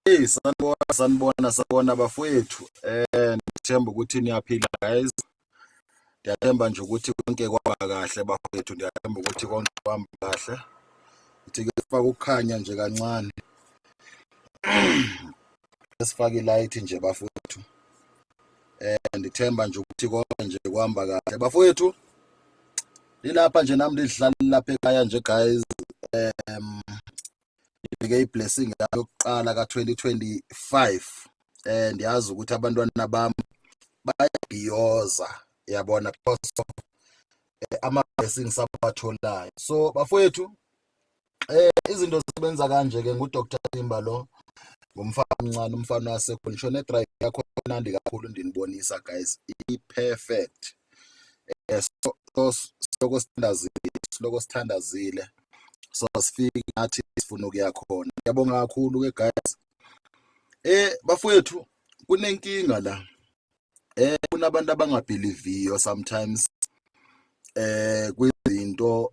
Hey sanibona sanibona sanibona bafowethu eh ngithemba ukuthi niyaphila guys ndiyathemba nje ukuthi konke kwaba kahle bafowethu ndiyathemba ukuthi konke kwamba kahle ithi ke sifaka ukukhanya nje kancane esifaka ilight nje bafowethu eh ndithemba nje ukuthi konke nje kwamba kahle bafowethu ilapha nje nami ndizihlalela lapha ekhaya nje guys um ibheke iblessing yayo yokuqala ka-2025 eh ndiyazi ukuthi abantwana bami bayabhiyoza yabona because of eh, ama-blessings abawatholayo so bafowethu eh izinto zisebenza kanje ke ngu Dr Timba lo ngumfana omncane umfana wasekhona shona drive yakho mnandi kakhulu ndinibonisa guys i perfect yes eh, siloko sithandazile siloko sithandazile so sifike ngathi sifuna ukuya khona ngiyabonga kakhulu ke guys eh bafowethu kunenkinga la eh kunabantu abangabhiliviyo sometimes eh kwizinto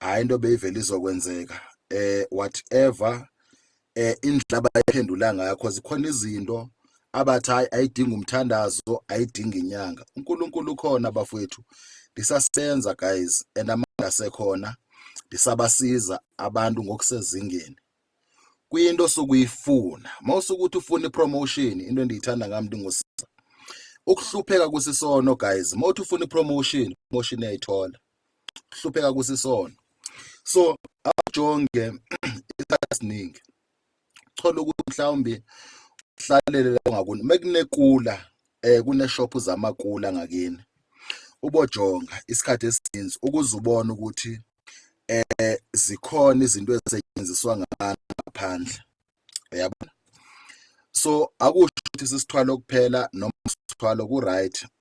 hayi into beyivele izokwenzeka eh whatever eh indlela abayiphendula ngayo because khona izinto abathi hayi ayidinga umthandazo ayidinga inyanga uNkulunkulu ukhona bafowethu ndisasenza guys and amandla sekhona ndisabasiza abantu ngokusezingeni kuyinto sokuyifuna mawusukuthi ufuna ipromotion into endiyithanda ngami ndingosiza ukuhlupheka kusisono guys mawuthi ufuna ipromotion promotion uyayithola hlupheka kusisona so awujonge isikhathi esiningi thola ukuthi mhlawumbe uhlalele la ngakuni mekunekula eh kuneshop zamakula ngakini ubojonga isikhathi esininzi ukuze ubone ukuthi eh zikhona izinto ezisetshenziswa ngaphandle uyabona so akusho ukuthi sisithwalo kuphela noma sithwalo ku right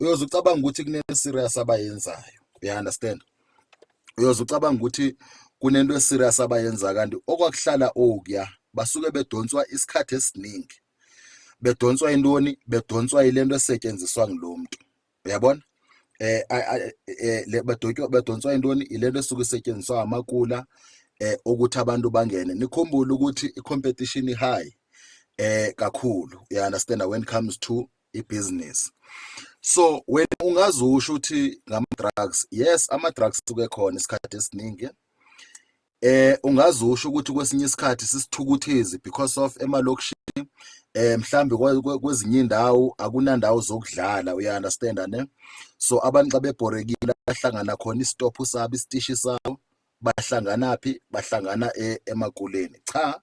uyoze ucabanga ukuthi kune-serious abayenzayo uya understand uyoze ucabanga ukuthi kunento eserious abayenza kanti okwakuhlala okuya basuke bedonswa isikhathi esiningi bedonswa intoni bedonswa ilento esetshenziswa ngulo mntu uyabona eh, eh le badotywa badonswa intoni ilento esuke isetshenziswa amakula eh ukuthi abantu bangene nikhumbule ukuthi i competition high eh kakhulu you understand when it comes to ibhizinisi so wena ungazusho ukuthi ngama-drugs yes ama-drugs suke khona isikhathi esiningi eh ungazusho ukuthi kwesinye isikhathi sisithukuthezi because of emalokishini eh mhlambe kwezinye indawo akunandawo zokudlala uya understand ne so abantu xa bebhorekile bahlangana khona isitophu sabo isitishi sabo bahlanganaphi bahlangana e, emakuleni cha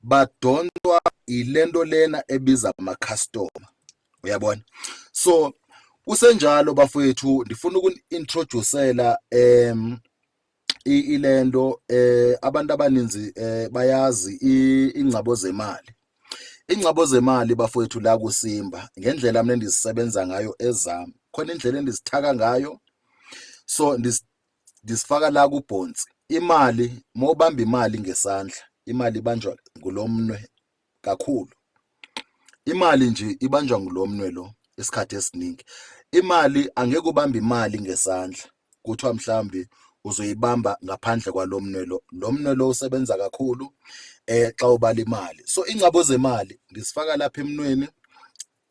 badonswa ilento lena ebiza ama customer uyabona so kusenjalo bafowethu ndifuna ukunintroducela em ilento eh abantu abaninzi eh bayazi ingcabo zemali ingcabo zemali bafowethu la kusimba ngendlela mina endizisebenza ngayo ezami khona indlela endizithaka ngayo so Ngisifaka la kubhonsi. Imali uma ubamba imali ngesandla, imali ibanjwa ngulo mnwe kakhulu. Imali nje ibanjwa ngulo mnwe lo isikhathi esiningi. Imali angeke ubambe imali ngesandla kuthiwa mhlawumbe uzoyibamba ngaphandle kwalo mnwe lo. Lo mnwe lo usebenza kakhulu um xa ubala imali. So ingcabo zemali ngizifaka lapha emnweni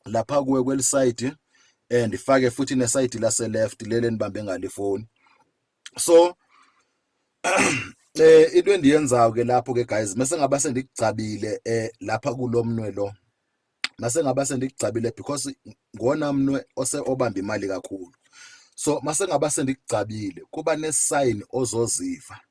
lapha kuwe kwelisayidi eh ndifake futhi nesayidi lase left lele nibambe ngale phone so eh into endiyenzayo ke lapho ke guys mase ngaba sendigcabile eh lapha kulomnwe lo mase ngaba sendigcabile because ngona mnwe ose obamba imali kakhulu so mase ngaba sendigcabile kuba ne sign ozoziva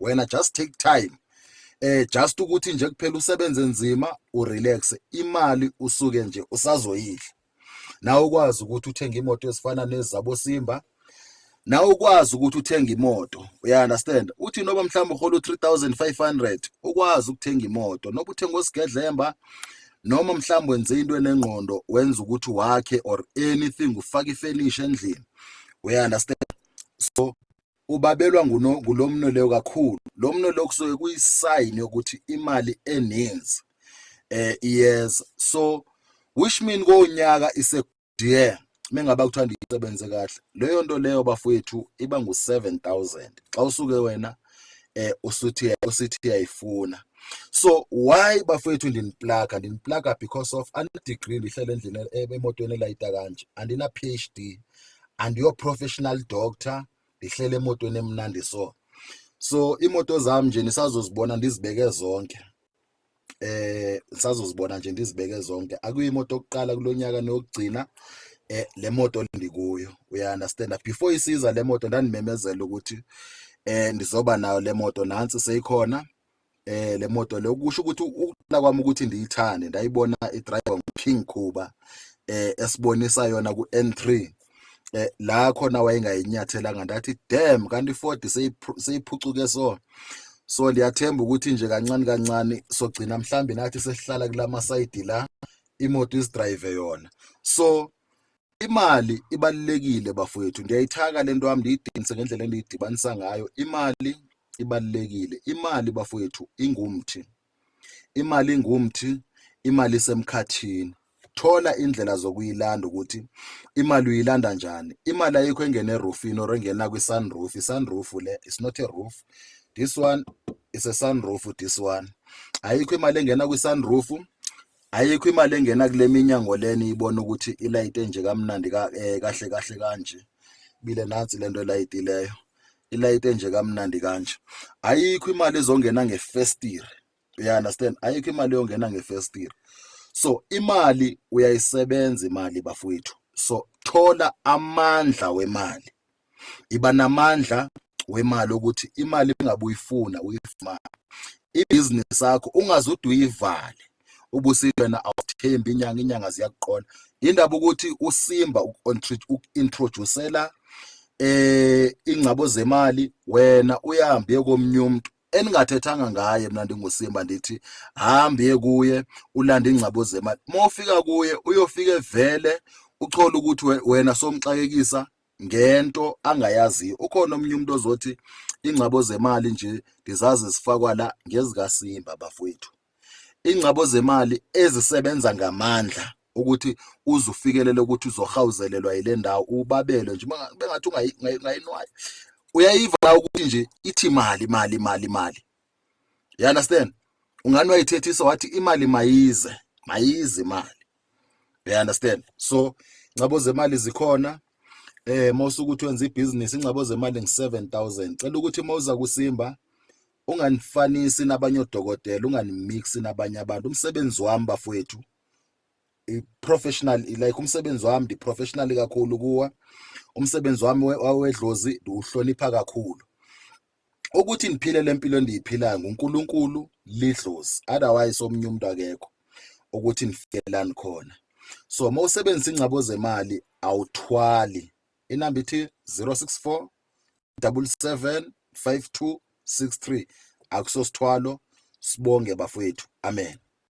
wena just take time eh just ukuthi nje kuphela usebenze nzima urelax imali usuke nje usazoyidla nawe ukwazi ukuthi uthenge imoto ezifana nezabo Simba nawe ukwazi ukuthi uthenge imoto uya understand uthi noba mhlawumbe uhola u3500 ukwazi ukuthenga imoto noba uthenga osigedlemba noma mhlawumbe wenze into enengqondo wenza ukuthi wakhe or anything ufake ifenisha endlini uya understand so Ubabelwa nguno, ngulo mno leyo kakhulu. Lo mno leyo kusuke kuyisayini yokuthi imali eninzi eh iyeza. So which mean konyaka ise dear mengaba kuthiwa ndisebenze kahle leyo nto leyo bafowethu iba ngu-7000 xa usuke wena eh usuthi usithi uyayifuna so why bafowethu ndiniplaka ndiniplaka because of ana-degree ndihlele endlini emotweni elayita kanje andina-phd and your professional doctor ndihlele emotweni emnandi so so imoto zami nje nisazozibona ndizibeke zonke eh sazozibona nje ndizibeke zonke akuyimoto yokuqala kulonyaka nokugcina eh le moto ndikuyo uya understand before isiza le moto ndandimemezela ukuthi eh ndizoba nayo le moto nansi seyikhona eh le moto le ukusho ukuthi ukuqala kwami ukuthi ndiyithande ndayibona idriver uKing Khuba eh esibonisa yona ku N3 eh la khona wayengayinyathelanga ndathi damn kanti 40 seyiphucuke so so ndiyathemba ukuthi nje kancane kancane sogcina mhlambi nathi sesihlala kulama side la imoto isidrive yona so Imali ibalulekile bafowethu, ndiyayithaka le nto yam ndiyidinise ngendlela endiyidibanisa ngayo. Imali ibalulekile, imali bafowethu ingumthi, imali ingumthi, imali isemkhathini. Thola indlela zokuyilanda ukuthi imali uyilanda njani. Imali ayikho engena erufini or engena kwi-sunroof. I-sunroof le is not a roof. This one is a sunroof, this one. Ayikho imali engena kwi-sunroof Ayikho imali engena kule minyango le niyibona ukuthi ilayite nje kamnandi ka eh, kahle kahle kanje bile nansi lento elayitileyo ilayite nje kamnandi kanje ayikho imali ezongena ngefestire uya understand ayikho imali yongena ngefestire so imali uyayisebenza imali bafowethu so thola amandla wemali Yiba namandla wemali ukuthi imali engabe uyifuna uyifumane ibhizinisi yakho ungaze ude uyivale ubusiwena awuthembi inyanga inyanga ziyakuqola indaba ukuthi usimba uku-introducela eh ingcabo zemali wena uyahambe komunye umuntu eningathethanga ngaye mina ndingusimba ndithi hambe kuye ulanda ingcabo zemali mofika kuye uyofike vele uchola ukuthi wena somxakekisa ngento angayaziyo ukhona omunye umuntu ozothi ingcabo zemali nje ndizazi zifakwa la ngezikasimba bafowethu ingcabo zemali ezisebenza ngamandla ukuthi uze ufikelele ukuthi uzohawuzelelwa yile ndawo ubabelwe nje bengathi ungayinwayo uyayiva ukuthi nje ithi mali mali mali mali you understand ungani wayithethisa wathi imali mayize mayize imali you understand so ncabo zemali zikhona eh mawusuke ukuthi wenza ibhizinisi ingcabo zemali ngi7000 cela ukuthi mawuza kusimba unganifanisi nabanye odokotela unganimixi nabanye abantu umsebenzi wami bafowethu i-professional like umsebenzi wami ndi-professional kakhulu kuwa umsebenzi wami wawedlozi ndiwuhlonipha kakhulu ukuthi ngiphile lempilo endiyiphilayo nguNkulunkulu lidlozi otherwise omunye umuntu akekho ukuthi nifikelani khona so uma usebenzisa ingcabo zemali awuthwali inamba ithi 064 77 5263 akusosithwalo sibonge bafowethu amen